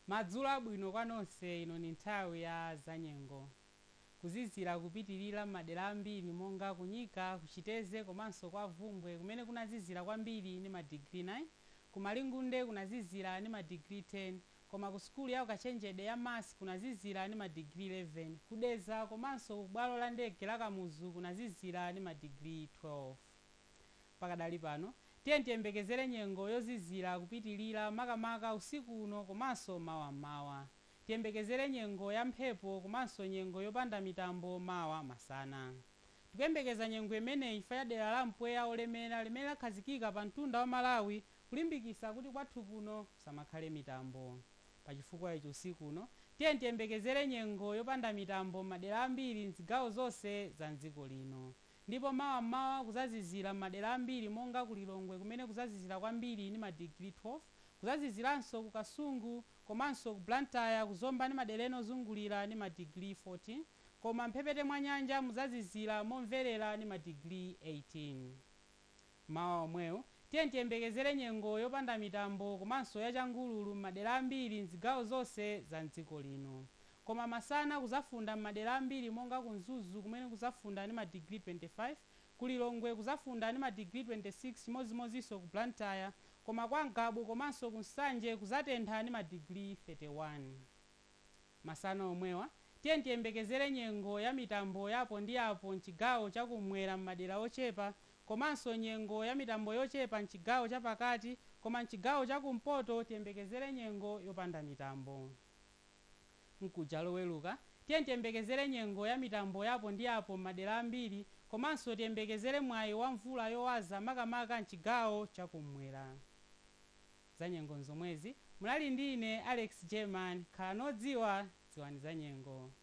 Madzulo abwino kwa nonse ino ni nthawi ya zanyengo. Kuzizira kupitilira m'madera ambiri monga ku Nyika, ku Chiteze komanso kwa Bvumbwe kumene kunazizira kwambiri ni ma digiri 9, ku Malingunde kunazizira ni ma digiri 10, Koma ku sukulu ya ukachenjede ya MUST kunazizira ndi ma digiri 11. Ku Dedza komanso ku bwalo la ndege la Kamuzu kunazizira ndi ma digiri 12. Pakadali pano, tiyeni tiyembekezere nyengo yozizira kupitilira makamaka usiku uno komanso mawa m'mawa. Tiyembekezere nyengo ya mphepo komanso nyengo yopanda mitambo mawa masana. Tikuyembekeza nyengo imeneyi chifukwa cha dera la mpweya olemera limene lakhazikika pa mtunda wa Malawi kulimbikitsa kuti kwathu kuno kusamakhale mitambo. Pa chifukwa ichi usiku uno tiyeni tiyembekezere nyengo yopanda mitambo m'madera ambiri m'zigawo zonse za m'dziko lino. Ndipo mawa m'mawa kuzazizira m'madera ambiri monga ku Lilongwe kumene kuzazizira kwambiri ndi ma digiri 12, kuzaziziranso ku Kasungu komanso ku Blantyre, ku Zomba ndi madera ena ozungulira ndi ma digiri 14 koma m'mphepete mwa nyanja muzazizira momverera ndi ma digiri 18. M'mawa omwewo, tiyeni tiyembekezere nyengo yopanda mitambo komanso ya changululu m'madera ambiri m'zigawo zonse za m'dziko lino. Koma masana kuzafunda m'madera ambiri monga ku Mzuzu kumene kuzafunda ndi madigiri 25, ku Lilongwe kuzafunda ndi madigiri 26 chimodzimodzinso ku Blantyre koma kwa Ngabu komanso ku Nsanje kuzatentha ndi madigiri 31. Masana omwewa, tiyeni tiyembekezere nyengo ya mitambo ya apo ndi apo m'chigawo cha kum'mwera m'madera ochepa komanso nyengo ya mitambo yochepa m'chigawo cha pakati koma m'chigawo cha kumpoto tiyembekezere nyengo yopanda mitambo. Mkuja Loweruka, tiyeni tiyembekezere nyengo ya mitambo ya apo ndi apo m'madera ambiri komanso tiyembekezere mwayi wa mvula yowaza makamaka m'chigawo cha kum'mwera. Zanyengo nzomwezi. Munali ndi ine Alex Jerman. Khalani odziwa, dziwani zanyengo.